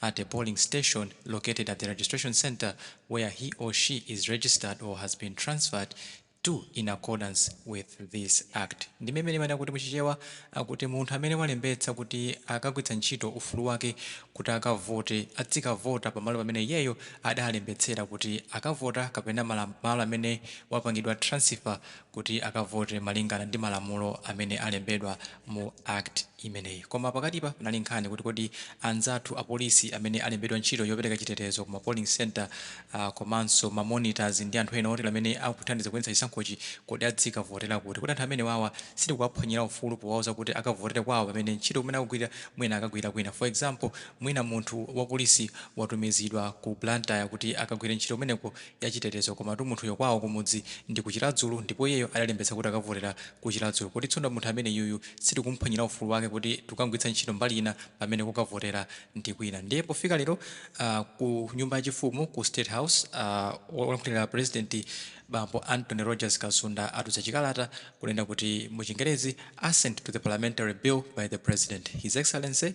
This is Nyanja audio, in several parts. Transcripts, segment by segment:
at a polling station located at the registration centre where he or she is registered or has been transferred to in accordance with this act ndime imene imanena kuti muchichewa akuti munthu amene walembetsa kuti akagwiritsa ntchito ufulu wake kuti akavote adzikavota pamalo pamene iyeyo adalembetsera kuti akavota kapena malo amene wapangidwa transfer kuti akavote malingana ndi malamulo amene alembedwa mu Act imeneyi. Koma pakatipa panali nkhani kuti kodi anzathu apolisi amene alembedwa ntchito yopereka chitetezo ku ma polling centre komanso ma monitors ndi anthu ena otero amene akuthandiza kuyendetsa chisankhochi kodi adzikavotera kuti? Kodi anthu amenewawa sitikuwaphwanyira ufulu powauza kuti akavotere kwawo pamene ntchito kumene akugwira mwina akagwira kwina? For example, mwina munthu wapolisi watumizidwa ku Blantyre kuti akagwire ntchito kumeneko. yachitetezo komatu munthuyo kwawo kumudzi ndi ku Chiradzulu ndipo iyeyo adalembetsa kuti akavotera ku Chiradzulu kodi tsono munthu ameneyuyu sitikumuphwanyira ufulu wake kuti tikukamugwiritsa ntchito mbali ina pamene kokavotera ndi kwina ndiye pofika lero ku nyumba ya chifumu ku state house wolankhulira pulezidenti bambo Anthony Rogers Kasunda atulutsa chikalata kunena kuti mu chingerezi assent to the parliamentary bill by the president his excellency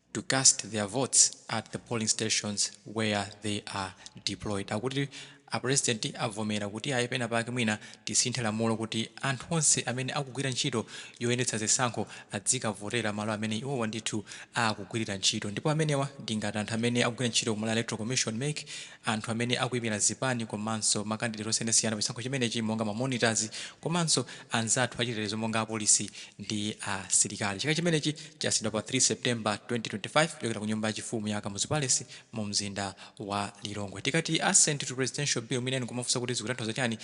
to cast their votes at the polling stations where they are deployed. Akuti a president avomera kuti ayi pena pake mwina tisinthe lamulo kuti anthu onse amene akugwira ntchito yoyendetsa zisankho adzikavotera malo amene iwowa ndithu akugwirira ntchito ndipo amenewa ndi ngati anthu amene akugwira ntchito ku Malawi Electoral Commission, mec, anthu amene akuimira zipani komanso makandideti osiyanasiyana pa chisankho chimenechi monga ma monitors komanso anzathu achitetezo monga apolisi ndi asilikali. Chikalata chimenechi chasayinidwa pa 3 September 2025 kuchokera ku nyumba yachifumu ya Kamuzu Palace mumzinda wa Lilongwe. Tikati Assent to Presidential Bill mwina nkumafunsa kuti zikutanthauza chani?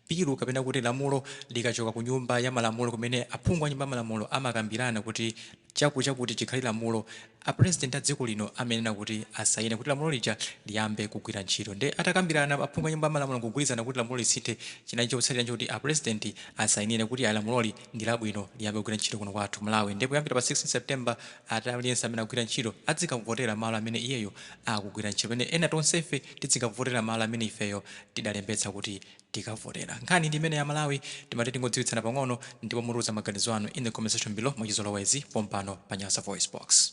Bilu kapena kuti lamulo likachoka ku nyumba ya malamulo kumene aphungu a nyumba ya malamulo amakambirana kuti chakuti chakuti chikhale lamulo, a president a dziko lino amayenera kuti asayine kuti lamulo lija liyambe kugwira ntchito. Nde atakambirana aphungu a nyumba ya malamulo nkugwirizana kuti lamulo lisinthe, chinali chotsatira nchoti a president asayinire kuti ayi lamuloli ndi labwino liyambe kugwira ntchito kuno kwathu ku Malawi. Nde kuyambira pa 16 September, Ati aliyense amene akugwira ntchito adzikavotera malo amene iyeyo akugwira ntchito pamene ena tonsefe tidzikavotera malo amene ifeyo tidalembetsa kuti tikavotera. Nkhani ndi imeneyi amalawi timati tingodziwitsana pang'ono ndipo mutiuze maganizo anu in the comment section below mwachizolowezi pompano pa Nyasa VoiceBox.